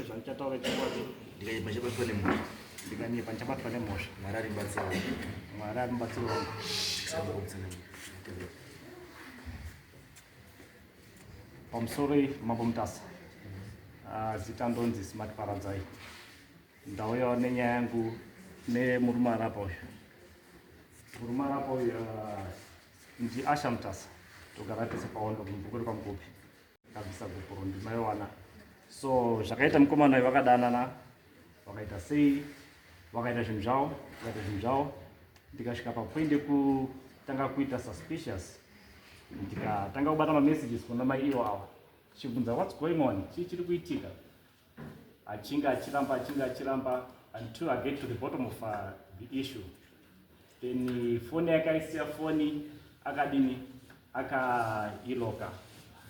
zvandichataura chokwadi ndikaimba chabatwa nemhuri ndikanyepa ndichabatwa nemhosva mwari ari mubatsiro wangu mwari ari mubatsiro wangu pamusoro mambo mutasa ah, zita ndonzi smart paradzai ndauyawo nenyaya yangu nemurume arapa uyu murume arapa uyu ah, ndiasha mutasa togara tese paondo mubhuku repamukupi akabvisa gupuro ndimaiwana so zvakaita mukomana vakadanana vakaita sei vakaita zvinhu zvavo vakaita zvinhu zvavo ndikasvika papoint yekutanga kuita suspicious ndikatanga kubata mamessages kuna mai iwo ava chibvunza whats going on chii chiri kuitika achinge achiramba achinge achiramba until i get to the bottom of uh, the issue then uh, foni yakaisiya foni akadini akailoka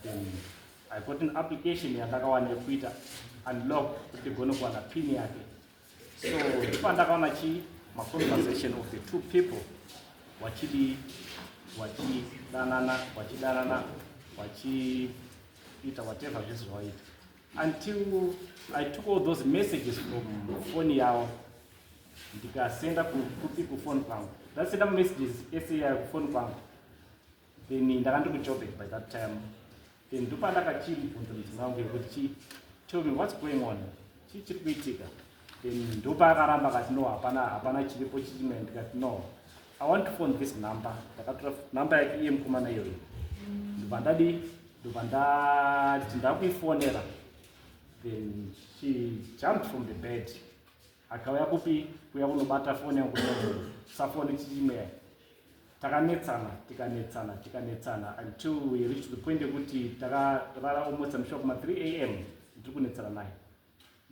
then i got an application yandakawana yekuita unlock kuti ndigone kuwana pin yake so ipandakaona chii maconversation of the two people wachidi wachidanana wachidanana wachiita whatever zvese zvawaita until I took all those messages from phone yavo ndikasenda kupi kufoni kwangu ndasenda messages ese yayo kufoni kwangu then ndakandi kujobe by that time then ndopandakachibvunza mudzimai wangu yekuti chii tell me what's going on chii chiri kuitika ndopaakaramba kati no hapana hapana chiripo chichimene ndikati no i want to phone this number ndakatora number yake iye mukomana iyoyo ndobva ndadi ndobva ndati ndakuifonera then she jumped from the bed akauya kupi kuya kunobata foni yangu safoni chichimea takanetsana tikanetsana tikanetsana until we reach the point yekuti takarara almost amshuwa kuma 3 am ndiri kunetsana naye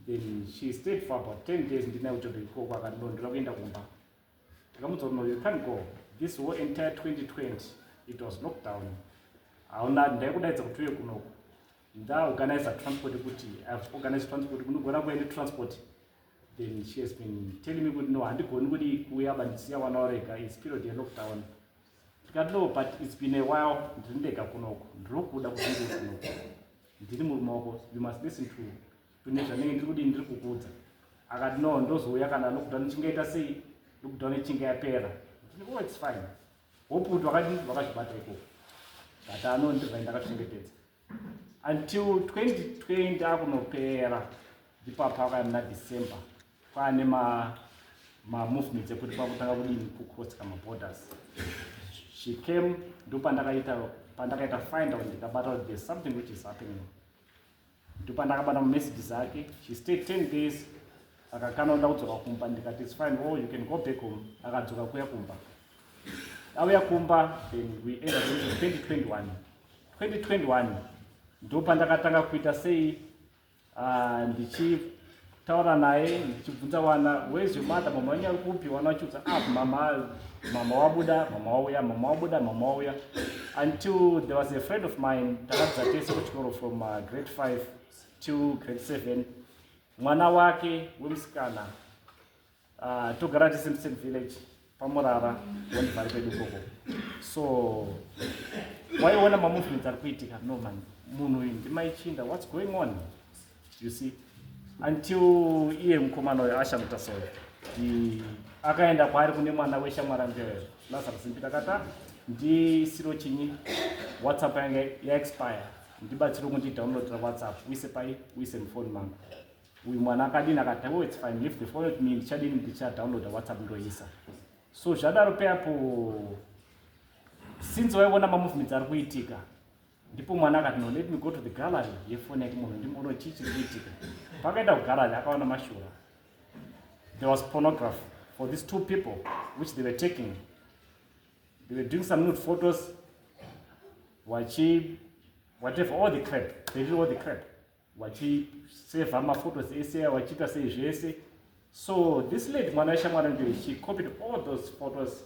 then she stayed for about 10 days ndinaye kuchoto ikoko akati no ndoda kuenda kumba ndakamuudza kuti no you can't go this whole entire 2020 it was lockdown hauna ndaikudaidza kuti uye kunoku ndaorganiza transport kuti ihave organized transport kunogona kuva netransport then she has been telling me kuti no handigoni kuti kuuya bandisiya wana warega is period yelockdown ndikati no but its been a while ndiri ndega kunoku ndiri kuda kuti ndiri kunoku ndiri murume wako you must listen to tune zvanenge ndiri kudii ndiri kukuudza akati no ndozouya kana lockdown ichingaita sei lockdown ichinge yapera ndini oh its fine hope kuti vakati vakazvibata ikoko but ano ndivai ndakachengetedza until 2020 akunopera ndipapa akaenda december Kwaane ma ma movements ekuti kwakutanga kudini ku cross kama borders. She came ndopandakaita pandakaita find out ndikabata kuti there's something which is happening. Ndopandakabata ma messages ake. She stayed 10 days akakana nda kudzoka kumba ndikati it's fine oh you can go back home akadzoka kuya kumba auya kumba then we ended with 2021 2021 ndopandakatanga kuita sei Ah, ndichitaura naye ndichibvunza wana wezi mada mama wenyu ari kupi wana vachiudza ah, mama mama wabuda mama wauya mama wabuda mama wauya until there was a friend of mine takadza tese kuchikoro from uh, grade 5 to grade 7 mwana wake wemusikana Ah, togara tese musame village pamurara wandibvari kwedu koko so waiona mamovements ari kuitika no man munhu uyu ndimaichinda whats going on you see until iye mukomana uyo ashamuta soyo akaenda kwaari kune mwana weshamwari angeyo lazarus mpita kata ndisiro chinyi whatsapp yange yaexpire ndibatsiro kundidownloadira whatsapp uise pai uise mufoni mangu uyu mwana akadini akati oh it's fine leave the phone with me ndichadini ndichadownloada whatsapp ndoisa so zvadaro peapo since waiona mamovements ari kuitika ndipo mwana akati no let me go to the gallery yefoni yake munhu ndimbono chii chiri kuitika pakaenda kugallery akaona mashura there was pornograph for these two people which they were taking they were doing some nude photos wachi whatever all the crap they did all the crap vachisevha maphotos ese vachiita sei zvese so this lady mwana weshamwari ndiyo she copied all those photos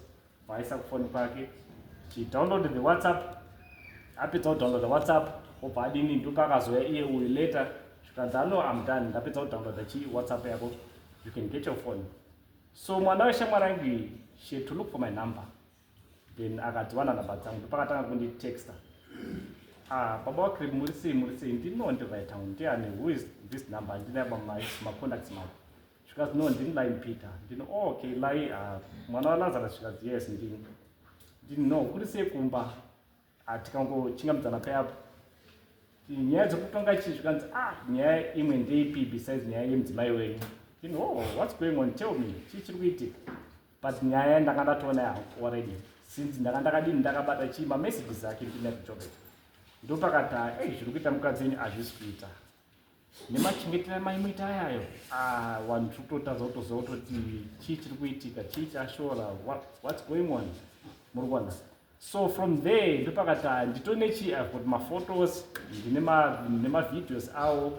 vaisa kufoni kwake she downloaded the whatsapp apedza kudownload the whatsapp obva adini ndopa akazoya iye uyu later zvikanzi ano am done ndapedza kudownloada chii whatsapp yako you can get your phone so mwana weshamwari ange she had to look for my number then akati wana number dzangu ndopakatanga kunditexta ah baba wakrib muri sei muri sei ndino ndivaitan ndiani who is this number ndinamacontacts mako zvikazi no ndini line peter ndino oh, okay line ah, mwana walazara zvikazi yes ndini ndini no kuri sei kumba Ah, tikangochingambidzana paya apo nyaya dzekutonga chii zvikanzi ah nyaya imwe ndeipi besides nyaya yemudzimai wenyu in oh what's going on tell me chii chiri kuitika but nyaya ndanga ndatoona yangu already since ndanga ndakadini ndakabata chii mamessages ake ndinazvichobeta ndopakati ei zviri kuita mukadzi wenyu hazvisi kuita nemachengetera maimuita ayayo ah, vanhu tiri kutotadza kutoziva kutoti chii chiri kuitika chii chashora whats going on muri kuona so from there ndopakati ah, ndito nechi ive got maphotos ndine nemavideos awo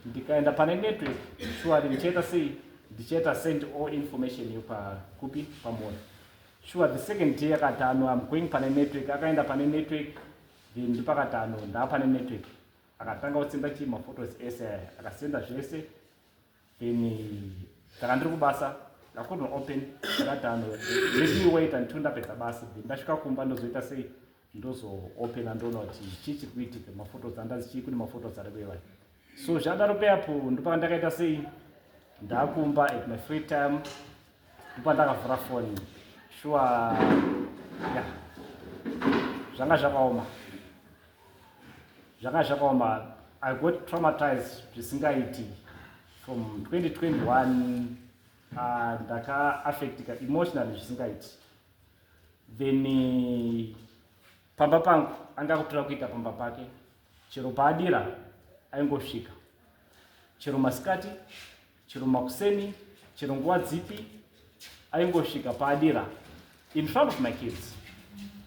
ndikaenda pane network shuwari ndichaita sei ndichaita send all information yo pakupi pamoyo shuwa the second day akati ano am going pane network akaenda pane network then ndopakati ano ndaa pane network akatanga kusenda chii maphotos ese aya akasenda zvese then kana ndiri kubasa ndakudno open ndakatano leti wait until ndapedza basa then ndasvika kumba ndozoita sei ndozoopena ndoona kuti chii chiri kuitika maphotos andazi chii kune maphotos ari kueva so zvadaro peapo ndopaka ndakaita sei ndakumba at my free time ndopa ndakavhura foni shuwa ya zvanga zvakaoma zvanga zvakaoma i got traumatized zvisingaiti from 2021 ah, ndakaaffectika uh, emotionally zvisingaiti then uh, pamba pangu anga kutora kuita pamba pake chero paadira aingosvika chero masikati chero makuseni chero nguva dzipi aingosvika paadira in front of my kids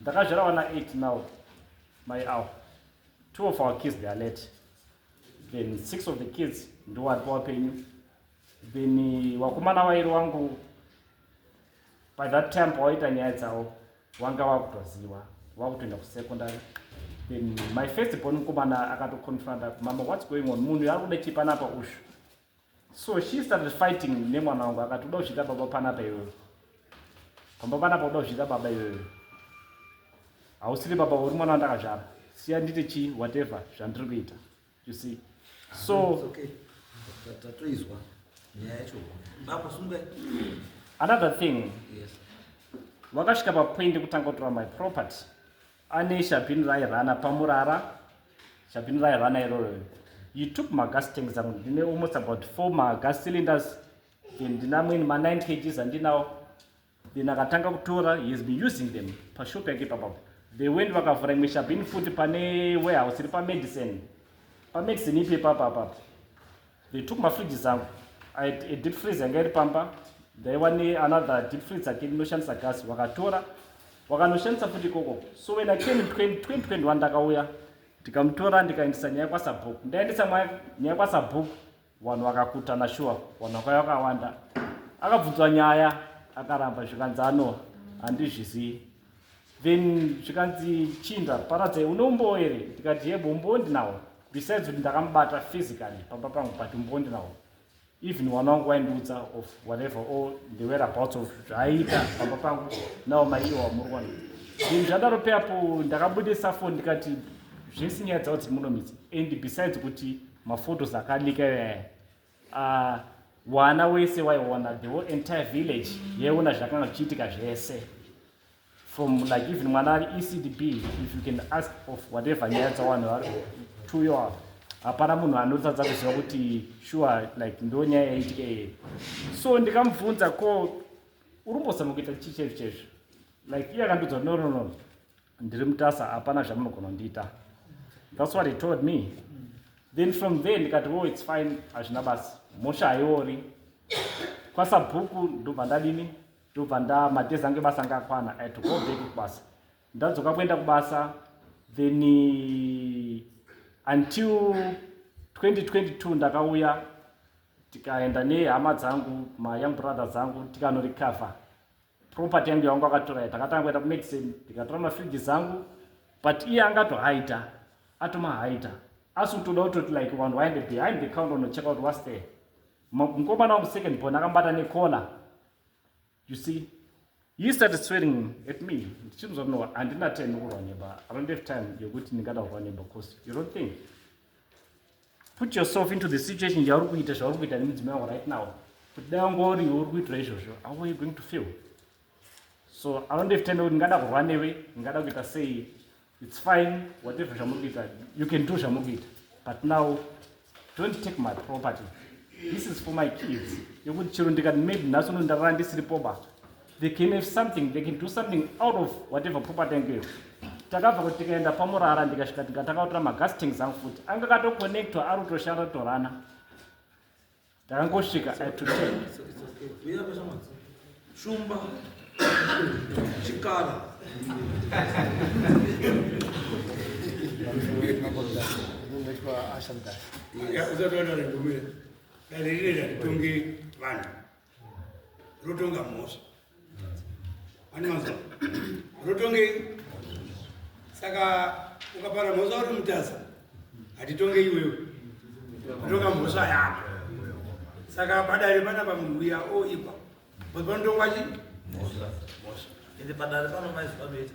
ndakazvara vana 8 now my hour two of our kids they are late then six of the kids ndo vari pavapenyu then eh, wakomana vairi wangu by that time pawaita nyaya dzavo wanga wakutoziva wakutoenda kusecondary then my first born mukomana akatoconfronta mama whats going on munhu ari kuda chipanapa ushu so she started fighting nemwana wangu akati uda kusvika baba panapa iwewe pamba panapa uda kusvika baba iwewe hausiri baba uri mwana wandakazvara siya ndite chii whatever zvandiri kuita you see so tatoizwa nyaya yacho baba sunga another thing vakasvika papoint yekutanga kutora my property anesha bhin rairana pamurara Shabhini raya vana iroro. You took my gas tanks zangu ndine almost about four ma gas cylinders then ndinamweni ma 9 kgs andinawo then akatanga kutora he has been using them pashop yake ipapapo they went vakavhura imwe shabhini futi pane warehouse iri pamedicine pamedicine ipi ipapa apapo They took my fridges zangu. I had a deep freeze yanga iri pamba. Ndaiwa ne another deep freeze again inoshandisa gas. Wakatora. Wakanoshandisa futi ikoko. So when I came in 2021 ndakauya ndikamutora ndikaendesa nyaya kwa Sabhuku. Ndaendesa nyaya kwa Sabhuku. Vanhu vakakutana shuwa. Vanhu vakauya vakawanda. Akabvunzwa nyaya akaramba zvikanzi ano handizvizivi. then zvikanzi chii ndaparadza une umbowo here ndikati yebo umbowo ndinawo besides kuti ndakamubata physically pamba pangu but umbowo ndinawo even mwana wangu waindiudza of whatever or the whereabouts of zvaiita pamba pangu nawo maiiwa wamurwana then zvadaro peapo ndakabudisa foni ndikati zvese nyaya dzavo dziri munomitsi and besides kuti maphotos akalika yaya Ah, wana wese waiona the whole entire village yaiona zvakanga zvichiitika zvese from like even mwana ari ecdb if you can ask of whatever nyaya dzawanhu vari to your hapana munhu anotadza kuziva kuti sure like ndo nyaya yaitika iye so ndikamubvunza ko urimbozama kuita chii chaizvo chaizvo like iye akandiudza no no no ndiri mutasa hapana zvamunogona kundiita thats what he told me then from there ndikati wo oh, its fine hazvina basa mhosva haiori kwasabhuku ndobva ndadini ndobva ndamadhezi ange basa anga akwana i to go back kubasa ndadzoka kuenda kubasa then eh, until 2022 ndakauya tikaenda nehama dzangu mayoung brother dzangu tikanorecover property yangu yaunga wakatora takatanga kuenda kumedicine ndikatora mafridge zangu but iye anga atohaita atomahaita asi utoda utoti like vanhu waende behind the counter unocheka kuti was there mukomana wangu second born akambata necola you see he started swearing at me ndichinzwa no handina time yokurwa neba i don't have time yokuti ndingada kurwa neba because you don't think put yourself into the situation yauri kuita zvauri kuita nemudzimai wako right now kuti dai wanga uri uri kuitira izvozvo how are you going to feel so anondefitenda kuti ndingada kurwa newe ndingada kuita sei its fine whatever zvamuri kuita you can do zvamuri kuita but now don't take my property this is for my kids yokuti chero ndikati maybe nhasi uno ndarara ndisiripoba they can have something they can do something out of whatever property yangu iyo takabva kuti tikaenda pamurara ndikasvika tika takautora magas tanks angu futi anga katoconnectwa ari kutoshanda torana ndakangosvika atotel shumba chikara Yeah, that's what I'm going to do. That's the reason I'm going to do. rotonga mhosva anonzwa rotongei saka ukapara mhosva uri mutasa hatitonge iwewe rotonga mhosva yako saka padare pana pamunhu uya oipa but panotongwa chii mhosva ende padare pano maizvanoita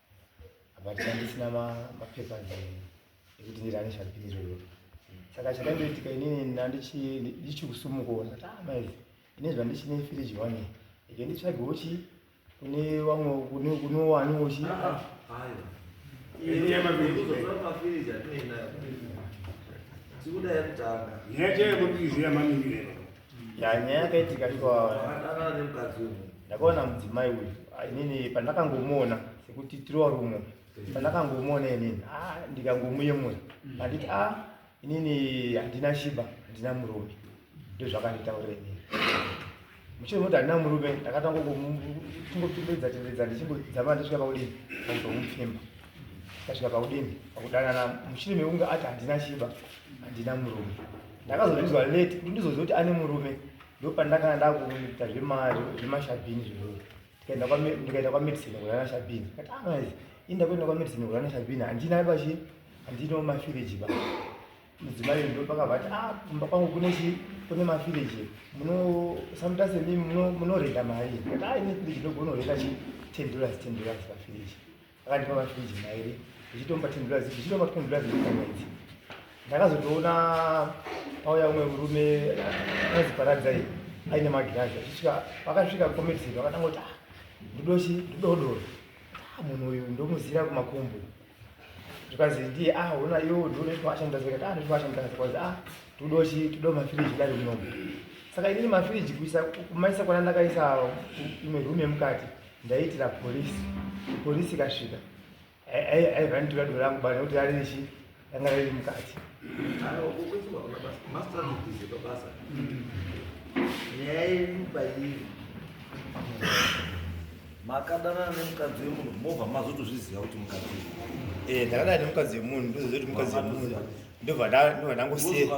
but andisina mapepa ekuti ndirani zvapiro iyoto saka chakandoitika inini ndichikusumukawo ndati amai ah, ine zvandichine firiji wani ike nditsvagewo chi kune vamwe kunowaniwo chi Tikuda yakutanga. Nyaje kuti zviya mami ngirero. Nyaya yakaitika iko ndakaona mudzimai uyu inini pandakangomuona sekuti tirowa rumo pandakangomuona inini ah, ndikangomuyemura anditi a ah, inini handina shiba handina murume ndozvakanditaurira inini muchiri moti handina murume ndakatanga kungopindidza tindidza ndichingodzama ndasvika pakudini pakuzomupfimba ndasvika pakudini pakudanana muchiri meunga ati handina shiba handina murume ndakazozvinzwa late kuti ndizoziva kuti ane murume ndopandakana ndakuita zvemashabhini zvoo ndikaenda kwamedicine kurana shabhini kati amaizi ah, inda kuenda kwamedicine kurana shabhini handina pachi handino mafiriji ba mudzimai ndo pakavati a ah, kumba kwangu kune chi kune mafiriji muno sometimes mi munorenda mari kati a ah, ine firiji ndogona kurenda chi ten dollars ten dollars pafiriji akandipa mafiriji mairi ndichitomba tendurazi ndichitomba tendurazi mwedzi ndakazotoona pauya umwe murume anonzi paradzai aine magirazi achisvika vakasvika komedzero vakatanga kuti ah, ndidochi ndidodoro ah, munhu uyu ndomuzira kumakumbu zvikanzi ndiye ah ona iwo ndinoitwaashandazikati ah ndoitwaashandazikati ah tudochi tudo mafiriji dai munomu saka inini mafiriji kuisa kumaisa kwana ndakaisa imwe rume mukati ndaiitira polisi polisi ikasvika aiva nditora dora rangu bana kuti rarichi ranga riri mukati nyaya yedu pairi makadanana nemukadzi wemunhu mobva mazotozviziva kuti mukadzi eh, ndakadana nemukadzi wemunhu ndozoziva kuti mukadzi wemunhu ndobva ndangosiya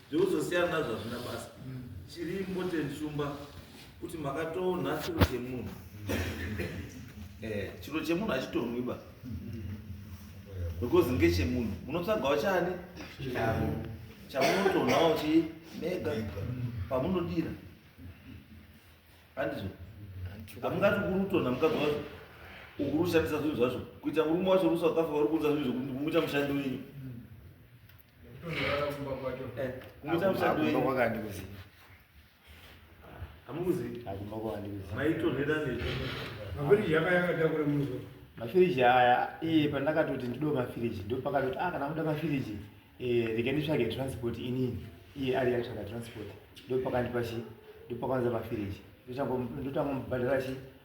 Zveuzosiyana nazvo hazvina basa. Chiri important shumba kuti makatonha chiro chemunhu. Eh, chiro chemunhu hachitonhwi ba. Because ngechemunhu. Munotsvagawo chani? Chavo. Chamunotonhawo chi mega pamunodira. Handizvo. Hamungati kurutonha mukabva ukurushandisa zvinhu zvacho. Kuita murume wacho rusa wakafa uri kuunza zvinhu zvokuti kumuita mushandi wenyu. mafiriji aya eh, pandakatoti ndido mafiriji ndo pakatoti ah, kana muda mafiriji eh, rega nditsvage transport inini iye ari yatsvaga transport ndo pakandipa chi ndo pakwanza mafiriji ndotangomubhadhara chi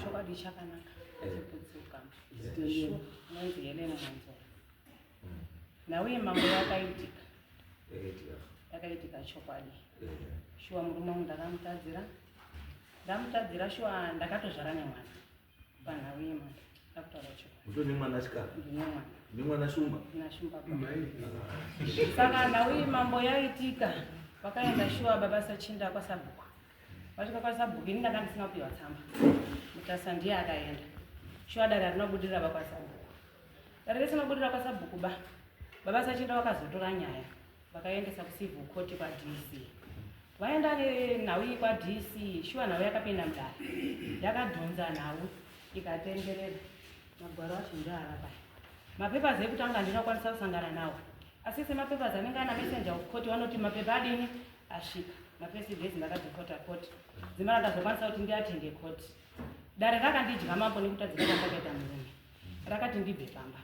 chokwadi chakanaka chekudzoka shuwa anonzi helena manzora nauye mambo yakaitika yakaitika chokwadi shuwa murume wangu ndakamutadzira ndamutadzira shuwa ndakatozvara nemwana panhau yemwana ndakutaura chokwadi uto nemwana asikana ndine mwana nemwana shumba nashumba saka nhau iyi mambo yaitika vakaenda shuwa baba sachinda kwasabhuku Vasvika kwasabhuku ini ndanga ndisina kupiwa tsamba. Mutasa ndiye akaenda. Shuwa dare harina kubudirira vakwasabhuku. Dare risina kubudirira kwasabhuku ba. Baba sachinda vakazotora nyaya vakaendesa kucivil court kwaDC. Vaenda nenhau iyi kwaDC, shuwa nhau yakapinda mudare. Yakadhonza nhau ikatenderera. Magwaro acho ndoava paya. Mapapers ekutanga ndinokwanisa kusangana nawo. Asi semapapers anenge ana messenger of court vanoti mapepa adini asvika mafirst days ndakadhipota court dzimana ndazokwanisa kuti ndiatende court dare rakandidya mambo nekutadzika kwandakaita murume rakati ndibve pamba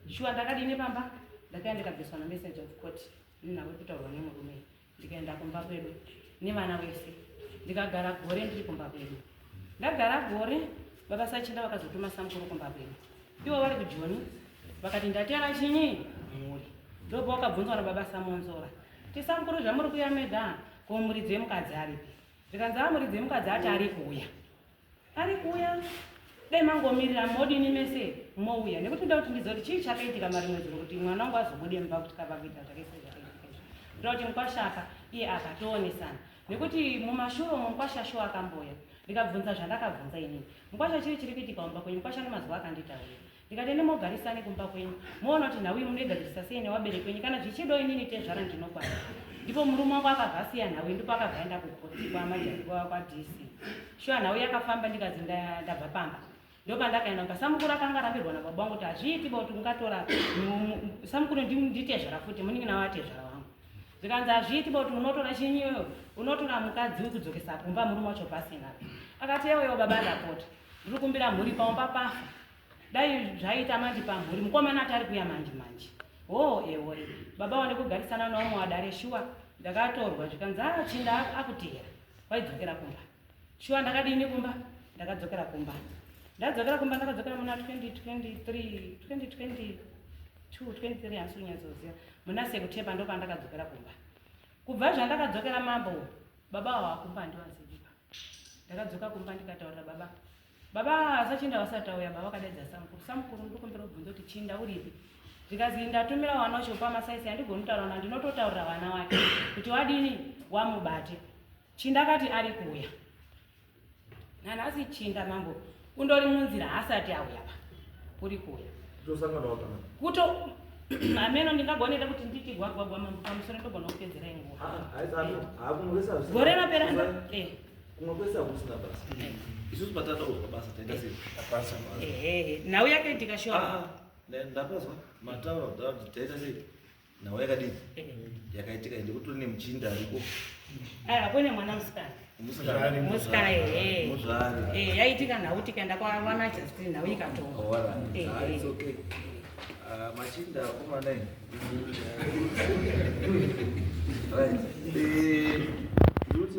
shuwa ndakadine pamba ndakaya ndikabviswa namessage of court ndinavo kutaurwa nemurume ndikaenda kumba kwedu nevana wese ndikagara gore ndiri kumba kwedu Ndagara gore baba Sachinda vakazotuma samukuru kumba kwedu. Ivo vari kujoni vakati ndatera chinyi mhuri. Ndobva wakabvunzwa na baba Samonzora. Ti samukuru zvamuri kuya meda ko muridzi wemukadzi aripi. Zvikanzi a muridzi wemukadzi ati ari kuya. Ari kuya dai mangomirira modini mese mouya nekuti ndoda kuti ndizive kuti chii chakaitika mari mwedzi kuti mwana wangu azobude mumba kuti kava kuita zvakaitika zvakaitika. Ndoda kuti mukwashaka iye akatoonesana. nekuti mumashure umo mukwasha shuwa akamboya ndikabvunza zvandakabvunza inini mukwasha chiri chiri kuitika kumba kwenyu mukwasha nemazuva akanditaurira ndikati ende mogarisani kumba kwenyu moona kuti nhau iyi munoigadzirisa sei newabere kwenyu kana zvichido inini tezvara ndinokwana ndipo murume wangu akabva asiya nhau iyi ndipo akabva aenda kukoti kwamajaiwa kwadc shuwa nhau yakafamba ndikazi ndabva pamba ndopandakaenda kuka samukuru akanga arambirwa nababa wangu kuti hazviiti ba kuti ungatora samukuru nditezvara futi muningi nawo atezvara wangu zvikanzi hazviiti ba kuti unotora chinyi iyoyo unotora mukadzi wekudzokesa kumba murume wacho pasina akati ewewo baba ndapota ndiri kumbira mhuri pamba pafa dai zvaiita manje pamhuri mukomana ati ari kuya manje manje hoo oh, ewoe baba wande kugarisana naumwe wadare shuwa ndakatorwa zvikanzi achinda ah, akutihera kwaidzokera kumba Shuwa ndakadini kumba? Ndakadzokera kumba. Ndadzokera kumba ndakadzokera muna 2023, 2022, 23 hansi unyatsoziva. Muna September ndo pandakadzokera kumba. Kubva zvandakadzokera mambo baba avo vakumba handivaziviba. Ndakadzoka kumba ndikataurira baba. Baba sachinda vasati vauya baba vakadeedza samukuru. Samukuru ndikumbira kubvunza kuti chinda uripi? Ndikazi ndatumira wana wacho pamasaisi handigoni kutaura na ndinototaurira vana wake kuti wadini wamubate. Chinda akati ari kuuya nanhasi chinda mambo kundori munzira haasati auya pa kuri kuuya kuto hameno ndingagoneta kuti nditi gwagwagwa mambo pamusoro ndogona kupedzera inguvagore rapera kumwe kwese hakusina basa eh. isusu patatauzwa basa taita eh. sei nhau yakaitika sho ah, ah. ndapazwa mataura kuti taita sei nhau yakadii yakaitika ende kutori nemuchinda ariko aiwa kune mwana musikana musikana musikana ehe muzvari Eh, yaitika nhau tikaenda kwawana justin nhau ikatonga awara Eh, Ah, it's eh. okay Ah, machinda akomana ini right Eh, ndikuti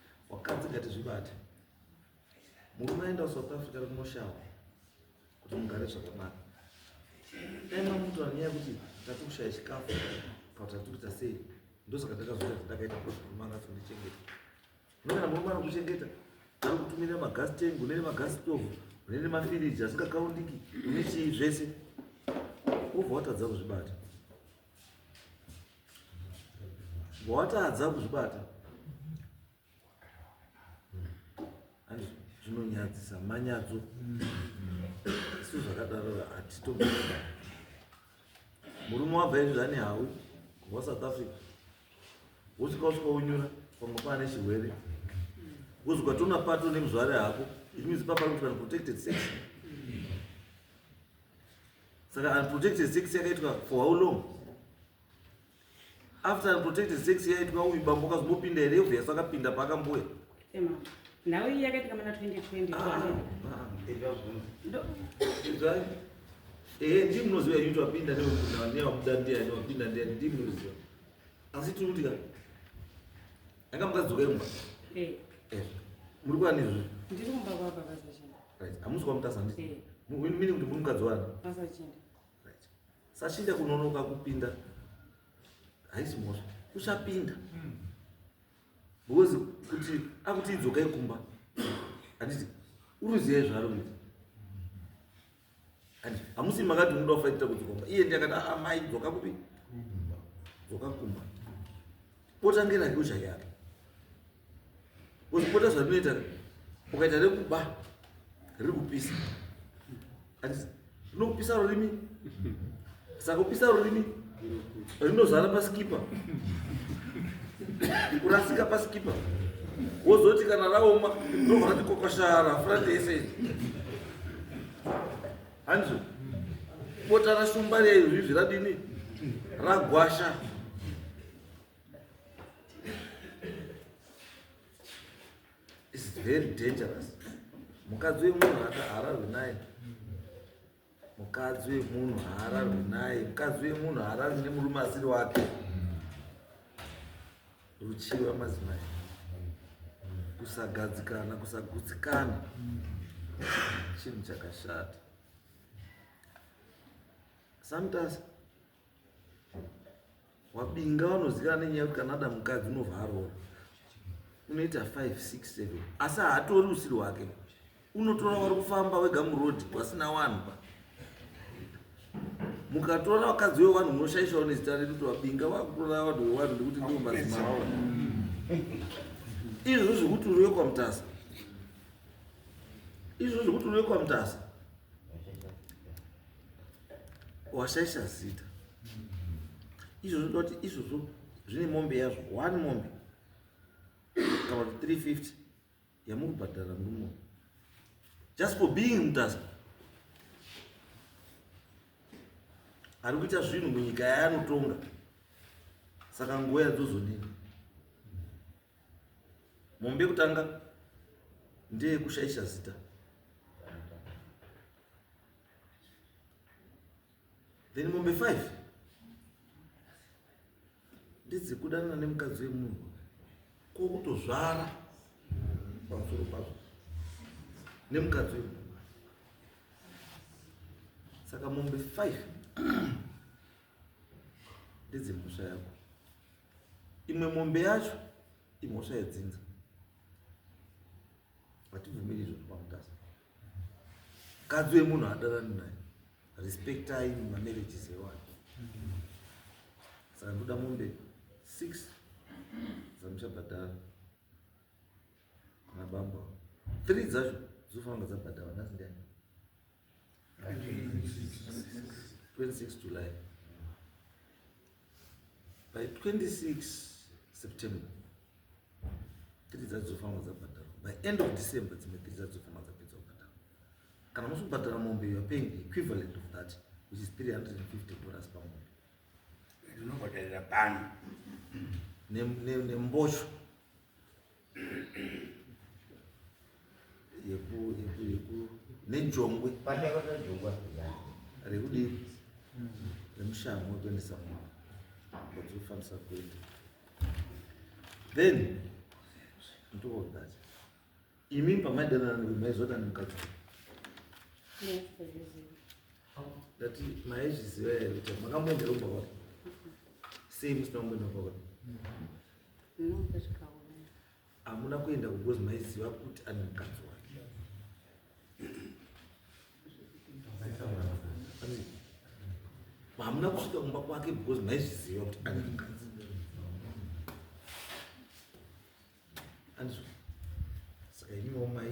Wakadzi ngatizvibate. Murume aenda kuSouth Africa ari kunoshawa kuti mugare zvakanaka. Dai mamutora nyaya yekuti tati kushaya chikafu kana tati kuita sei ndosaka ndakazoita zvandakaita kuti murume anga asindichengeta. Nokana murume anokuchengeta ari kutumira magas tank une nemagas stove une nemafiriji asingakaundiki une chii zvese wobva watadza kuzvibata. watadza kuzvibata zvinonyadzisa manyadzo isu zvakadaro hatito murume wabva izvi zvane hawi wa south africa wosvika usvika unyura pamwe paane chirwere wozvika tona pato nemuzvare hako it means paparikuti kana protected section saka unprotected sex yakaitwa for how long after unprotected sex yaitwa uyu bambo kazombopinda here obvious akapinda paakambuya nhau iyi yakaitika mana 2020 ah, ah. ehe ndi munoziva yuti wapinda newabuda ndiani wapinda ndiani ndi munoziva asi tiri kuti ka Anga mukadzi wemba. Eh. Eh. Muri kwa nizvi? Ndiri kumba kwa baba Sachinda. Right. Amusi kwa mutasa ndi. Eh. Mimi mini kuti muri mukadzi wani? Baba Sachinda. Right. Sachinda kunonoka kupinda. Haisi mosha. Usapinda. Mm. Because kuti akuti idzoka ikumba. Anditi uruziye zvaro kuti. And hamusi makati muda kufaitira kudzoka iye ndiye akati aa ah, mai dzoka kupi dzoka kumba pota ngerake uchayaka kuzipota zvatinoita ukaita rekuba riri kupisa riri kupisa rurimi saka kupisa rurimi rinozara pasikipa kurasika pasikipa wozoti kana raoma ndovati kokoshara frate yese hanzi bota rashumba reizvizvi radini ragwasha is very dangerous mukadzi wemunhu akahararwi naye mukadzi wemunhu haararwi naye mukadzi wemunhu haararwi nemurume asiri wake ruchiva madzimai kusagadzikana kusagutsikana chinhu chakashata sometimes wabinga vanoziva nenyaya yekuti kana ada mukadzi unobva aroora unoita 5 6 7 asi haatori usiri wake unotora wari kufamba wega muroad wasina wanhu pa mukatora vakadzi vewanhu munoshaishawo nezita redu kuti wabinga vakutora vanhu vewanhu nekuti ndivo mazimaawa izvo zvekuti uriwe kwamutasa izvo zvekuti uriwe kwamutasa washaisha zita izvo zvinoda kuti izvozvo zvine mombe yazvo one mombe kana kuti 350 yamuri kubhadhara murumo just for being mutasa ari kuita zvinhu munyika yaanotonga saka nguva yadzozodini mombe kutanga ndeyekushaisha zita then mombe five ndedzekudanana nemukadzi wemunhu ko kutozvara pamusoro pazvo nemukadzi wemunhu saka mombe five ndedzemhosva yako imwe mombe yacho imhosva yedzinza hatibvumiri izvozvo pamutasa mukadzi wemunhu adarani naye respectai mamarriages evanhu saka ndoda mombe six dzamuchabhadhara kana bamba three dzacho dzofanira dzabhadhara nhasi ndai 26 july by 26 september tiri dzadzofamba dzabhadharwa by end of december dzimwe tiri dzadzofamba dzapedza kubhadharwa kana musi kubhadhara mombe youare paying the equivalent of that which is 350 dollars pamombe ndinobhadharira bhani nembosho yeku yeku yeku nejongwe pandakakajongwa rekudii remushango wekuendesa mwana wadzofambisa kuenda then ndoodacha imi pamaidanana maizoda nemukadzi ndati maizviziva here kuti makamboenderomba kwati sei musina kumboenda kwakati hamuna kuenda kukozi maiziva kuti ane mukadzi wake hamuna kusvika kumba kwake because maizviziva kuti ane mukadzi andizvo saka iniwo mai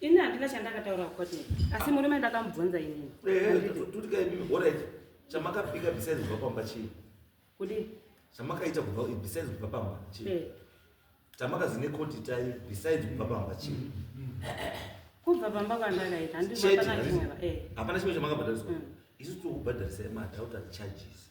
Ini handina chandakataura kucotin asi murume ndakamubvunza inini. Alright, chamakapika besides kubva pamba chii? Kudii? Chamakaita kubva besides kubva pamba chii? Eh. Chamakazine court itai besides kubva pamba chii? Kubva pamba kwandakaita handina kana chimwe. Eh. Hapana chimwe chamakabhadhariswa. Mm. Isu tokubhadharisai madhauta charges.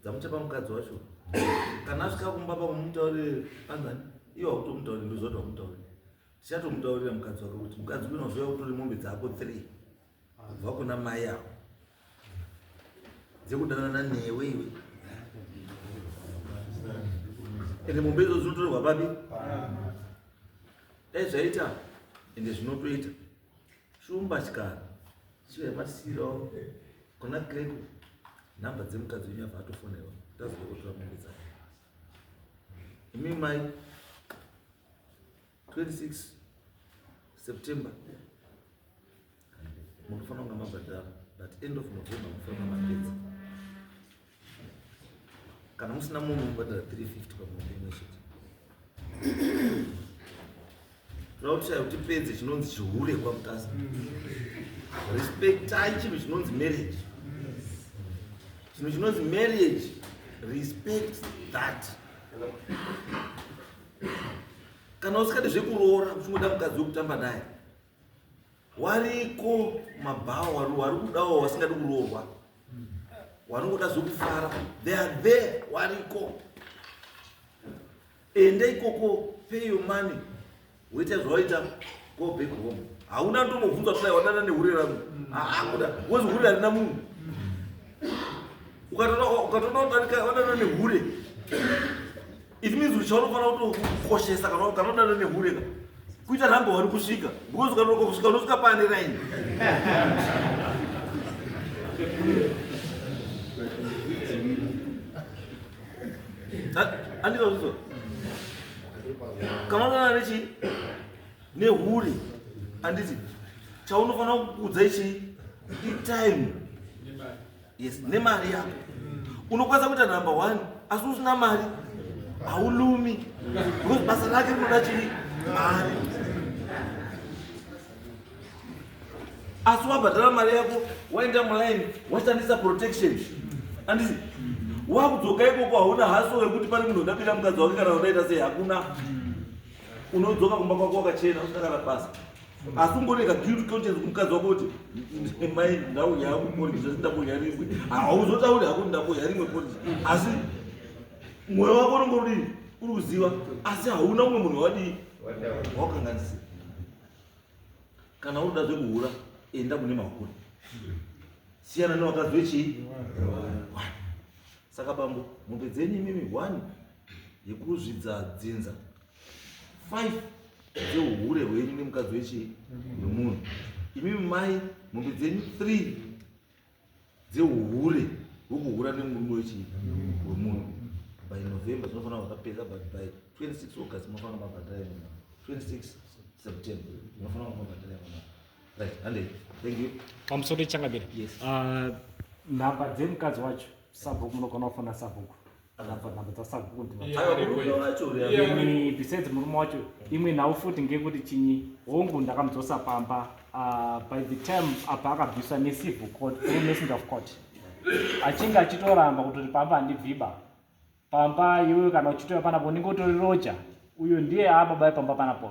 dzamuchapa mukadzi wacho kana asvika kumba pamumutaurire anzani iwo akutomutaurire ndozoti wamutaurire tichatomutaurira mukadzi wake kuti mukadzi kunozoya kutore mombe dzako three kubva kuna mai avo dzekudanana newe iwe ende mombe idzo dzinotorerwa papi dai zvaita ende zvinotoita Shumba chikara. Sure masiro. Kuna Grego. Namba dzemukadzi wenyu apa atofonerwa. Tazoda kutora mombe dzake. Imi mai 26 September. Munofanira kunge mabhadhara but end of November munofanira kunge mapedza. kana musina munhu unobhadhara 350 pamombe imwe chete toda kuti chaivo tipedze chinonzi chihure kwamutasa respectai chinhu chinonzi marriage chinhu chinonzi marriage respect that kana usingadi zvekuroora uchingoda mukadzi wekutamba naye wariko mabhawa wari kudawo wasingadi kuroorwa wari kuda zvokufara they are there wariko ende ikoko pay your money woita zvawaita go back home hauna ndomobvunza kudai wadana nehure rangu haakuda wozi hure harina munhu ukatoda ukadarika wadana nehure It means kuti chaunofana kutokoshesa kana ukanodana nehure ka kuita number one kusvika because ukanonoka kusvika unosvika pane raini andikazvizwa kana unodana nechi nehure anditi chaunofanira kuudza ichii itime yes nemari yako unokwanisa kuita number one asi usina mari haulumi because basa rake rinoda chii mari asi wabhadhara mari yako waenda muline washandisa protection andisi wakudzoka ikoko hauna haso wekuti pane munhu undabira mukadzi wake kana unaita sei hakuna unodzoka kumba kwako wakachena usina kana basa asi ungoneka guilt conscience kumukadzi wako kuti mai ndauya hangu porridge zvati ndamboya rimwe hauzotauri hako ndamboya rimwe porridge asi mwoyo wako unenge udii uri kuziva asi hauna umwe munhu wadii wakanganisira kana unoda zvekuhura enda kune mahura siyana newakadzi wechii saka bambo mombe dzenyu imimi one yekuzvidza dzinza 5 dzeuhure hwenyu nemukadzi wechii wemunhu imi mai mombe dzenyu 3 dzeuhure hwekuhura nemurume wechii wemunhu by november zvinofanira vakapedza but by 26 august munofanira mabhadhara yemuna 26 september munofanira mabhadhara yemuna right handei thank you pamusoro ichangamire yes. uh, nhamba dzemukadzi wacho sabhuku munogona kufona sabhuku akabva nhamba dzasabhuku besides murume wacho imwe nhau futi ngekuti chinyi hongu ndakamudzosa pamba ah, by the time apa akabviswa necivil court through messenger of court achinge achitoramba kutoti pamba handibviba pamba iwewe kana uchitoya panapo unenge utori roja uyo ndiye aababa epamba panapo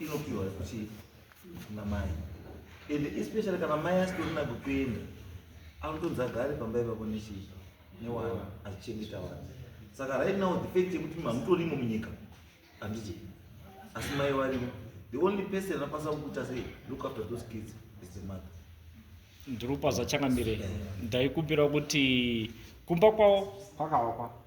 inopiwa kuti kuna mai and especially kana mai asitorina kukuenda anotonzi agare pamba ipapo nechii newana achichengeta wana saka right now the fact yekuti mamutorimo munyika handiti asi mai varimo the only person anokwanisa kukuita sei look after those kids is the mother ndiri kupa zvachangamire ndaikumbira kuti kumba kwavo kwakavakwa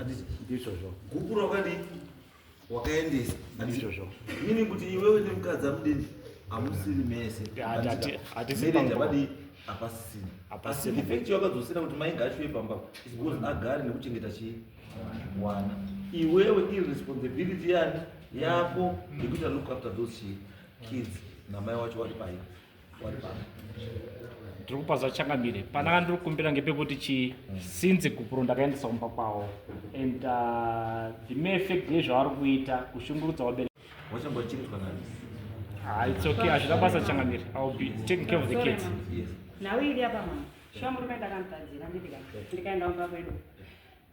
Anditi ndizvozvo. Gupuro wakadii? Wakaendesa. Ndizvozvo. Meaning kuti iwewe nemukadzi amudini amusiri mese. Hati- hati- hatisi Marriage pamwe. abadii? Hapasisina. Hapasisina. Asi the fact yakadzosera kuti mai ngaashuwe pamba is because agare nekuchengeta chii? Wana. Iwewe irresponsibility yani yako yekuita look after those chii? kids namai wacho vari paye. ndiri kupa zvachangamire pana kandiri kukumbira ngepekuti chi since gupuro ndakaendesa kumba kwavo and uh, the mere fact yezvavari kuita kushungurudza vabereki wachambwa chinzwa nani Ah, it's okay hazvina basa changamire i will be taking care of the kids yes nhau iri apa mama shuwa murume ndakamutadzira ndipika ndikaenda kumba kwedu